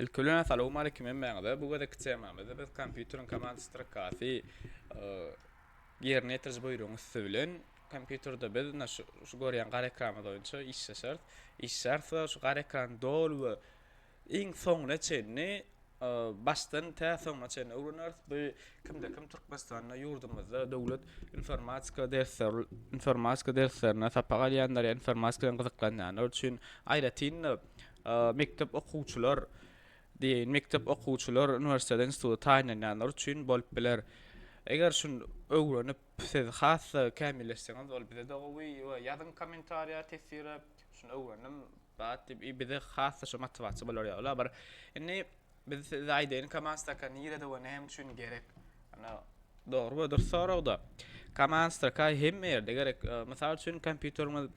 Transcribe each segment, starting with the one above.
Ilki bilen assalamualeýkum hemmäňize. Bu gezekki temamyzda biz kompýuteriň komand strokasy ýerine ýetiriji buýrugyň üsti bilen kompýuterde biz ina şu, şu görýän gara ekranymyz boýunça işleşeris. Işleşeris we şu gara ekrany doly we iň soňuna çenli başdan tä soňuna çenli öwreneris. Bu kimde kim Türkmenistanda ýurdumyzda döwlet informatika dersler informatika derslerine sapak alýanlar ýa informatika bilen gyzyklanýanlar üçin aýratyn Mekdep okuwçylar, diýeýin, mekdep okuwçylar, uniwersitete, instituta taýynlanýanlar üçin bolup biler. Eger şuny öwrenip, siz has-da kämilleşseňiz, ol bize-de gowy we ýazyň kommentariýa teswire, şuny öwrendim, bat diýip, bize has-da şo motiwasiýa bolar ýaly bir. Indi. Biz size aýdaýyn kamanstraka nirede we näme üçin gerek? Ýöne dogry we dürs soragda kamanstraka hemme ýerde gerek. Mysal üçin kompýuteriňiz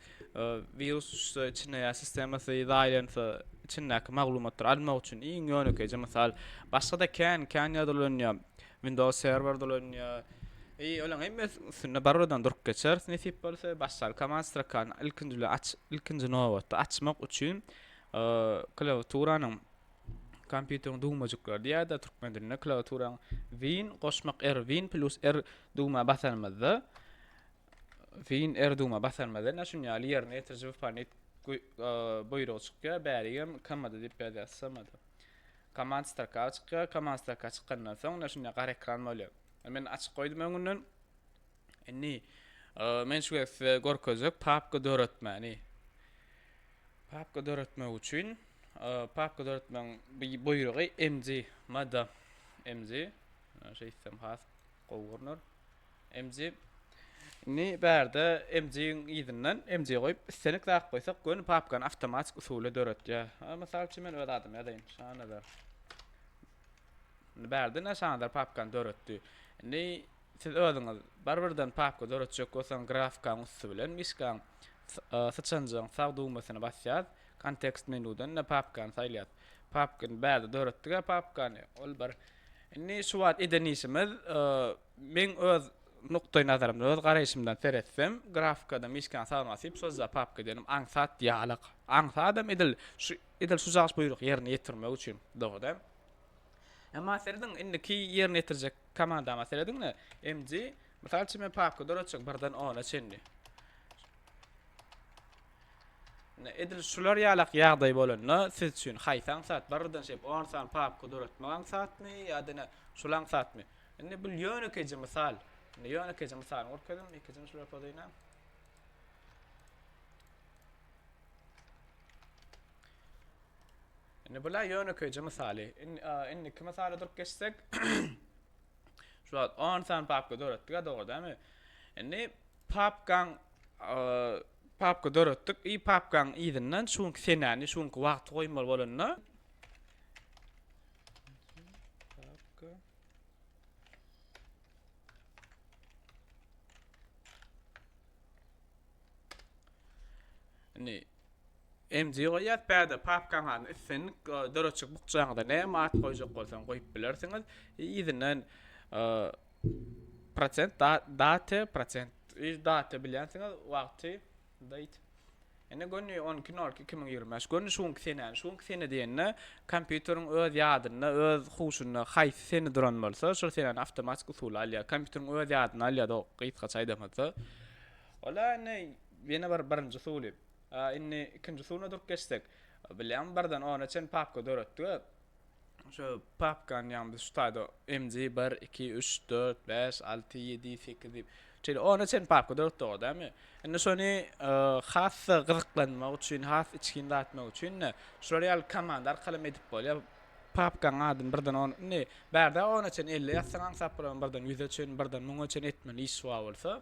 wirus düşse içine ýa sistemasy zaýalansa içindäki maglumatlary almak üçin iň ýönekeýje mysal. Başgada kän kän ýerde ulanýar. Windows serwerde ulanýar. I olaň hemmesiniň üstünde barybirden durup geçeris nesip bolsa. Başdan kamastrakany ilkinji bilen aç ilkinji nobatda açmak üçin klawiaturanyň kompýuteriň dugmajyklary diýýärdi türkmen dilinde klawiaturaň win goşmak r win plus r dugma basanymyzda win r dugma basanymyzda näme şun ýaly ýerine ýetiriji wypanit buýrugy çykýar bärigem komanda diýip ýazýar smd komand staka çykýar komand staka çykandan soň näme şunda gara ekran bolýar men açyk goýdum öňünden Indi men şu gezek size görkezjek papka döretmäni. Papka döretmek üçin papka döretmeň bu buýrugy mg mada mg şeýtsem has gowy görner. Mg Indi bärde MG-iň ýerinden MG goýup, islenik zat goýsak, göni papkany awtomatik usuly döretýär. Mysal üçin men öz adymy ýazaýyn. Şanazar. Indi bärde ne Şanazar papkany döretdi. Indi Siz özüňiz barybirden papka döretjek bolsaň grafikaň üsti bilen myşkaň syçanjygyň sag düwmesini basýas, kontekst menudan ine papkany saýlas. Papkany bärde döretdiga papkany ol bir Indi şu wagt eden işimiz meň öz nukdaý nazarymdan öz garaýşymdan seretsem grafikada myşkany sag basyp sozýa papka edenim aňsat ýalyk. Aňsadam edil şu edil şu jagyş buýrugy ýerine ýetirmek üçin dogada. Emma serediň indiki ýerine ýetirjek komandama serediňle. MG mysal üçin men papka döretjek birden ona çenli. Edil şular ýalak ýagdaý bolanda siz üçin haýsy aňsat birden şeýip 10 sany papka döretmek aňsatmy ýa-da ne şul aňsatmy? Indi bu ýönekeýje mysal. Indi ýönekeýje mysalyny görkezdim. Ikinjini şular podaýna. Indi bu-la ýönekeýje mysaly. Indiki mysala durup geçsek, şu wagt 10 sany papka döretdik-ä, dogry dälmi? Indi papkaň papka döretdik i papkaň yzyndan şu günki senäni, şu günki wagty goýmaly bolanda, Indi MG goýýas bäde papkaň halyny islendik e, döreçik bukjaňyza näme at goýjak bolsaň goýup bilersiňiz. Yzyna e, prosent date prosent yz date bilýänsiňiz wagty date Ene göni 12.02.2025 göni şu günki senäni şu günki sene diýende kompýuteriň öz ýadynda öz huşunda haýsy sene duran bolsa şol senäni awtomatik usuly alýar kompýuteriň öz ýadyna alýar o gysgaça aýdamyzda Wala indi ýene bir birinji suwly. A indi ikinji suwuna durup geçsek. Bilýäňmi birden ona çen papka döretdik-ä. Şu papkany ýagny biz şu taýda MG bir, iki, üç, dört, bäş, alty, ýedi, sekiz diýip şeýle ona çen papka döretdik-ow dämi. Indi şony has-da gyzyklanmak üçin, has içgin zat etmek üçin-de şular ýaly komanda arkalym edip bolýar. Papkaň adyny birden on indi bärde ona çen elli ýazsaň aňsat bolaň birden ýüze çen, birden müňe çen etmeli iş bar bolsa.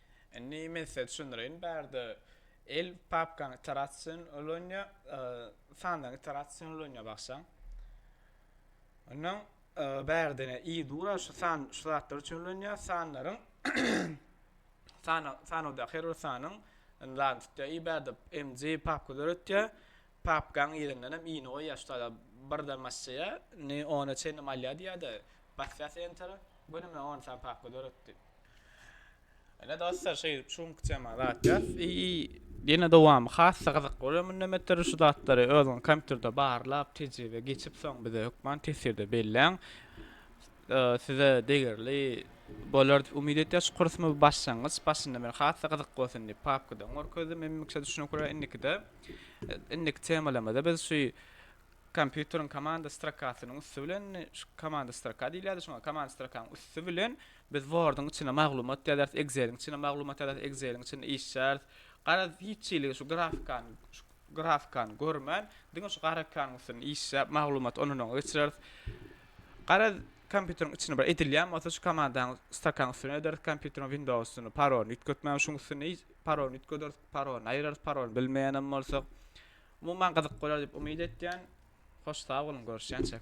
Indi men size düşündireýin. Bärde el papkaň iterasion ulanya, sanlaryň iterasion ulanya bagşaň. Ondan bärde i dura şu san şu zatlar üçin ulanya, sanlaryň san sanawdaky her bir sanyň zadyny tutýa. I bärde mg papka döretýä. Papkaň yzyndan hem ini goýýa şu zada bir zam basýa. Ni ona çenli malýa diýýä-de, basýas entera. Göni men on sany papka döretdi. Ene dostlar şey şu günki tema zat ya. Yine dowamy hassa gyzyk bolýar munda metr şu zatlary özüň kompýuterde barlap tejribe geçip soň bize hökman tesirde belläň. Size degerli bolar diýip umyt etýär şu kurs mu başlangyç başynda men hassa gyzyk bolsun diýip papkadan görkezdim hemmişe düşünip görä indikide indiki temalarymyzda biz şu kompýuteriň komanda strokasynyň üsti bilen şu komanda stroka diýilýärdi şoňa komanda strokanyň üsti bilen Biz Word-yň içine maglumat ýazaris, Excel-iň içine maglumat ýazaris, Excel-iň içinde işlýäris. Garaz, hiç hili şu grafikany, şu grafikany görmän, diňe şu gara ekanyň üstünde işläp, maglumaty ondan-oňa geçireris. Garaz, kompýuteriň içinde bir edilýän bolsa, şu komandany stakaň üstüne ederis, kompýuteriň Windows üstünde parolny üýtgetmän, şuň üstünde parolny üýtgederis, parolny aýyrarys, parolny bilmeýän hem bolsak. Umuman gyzyk bolar diýip umyt etýän. Hoş sag boluň, görüşýänçäk.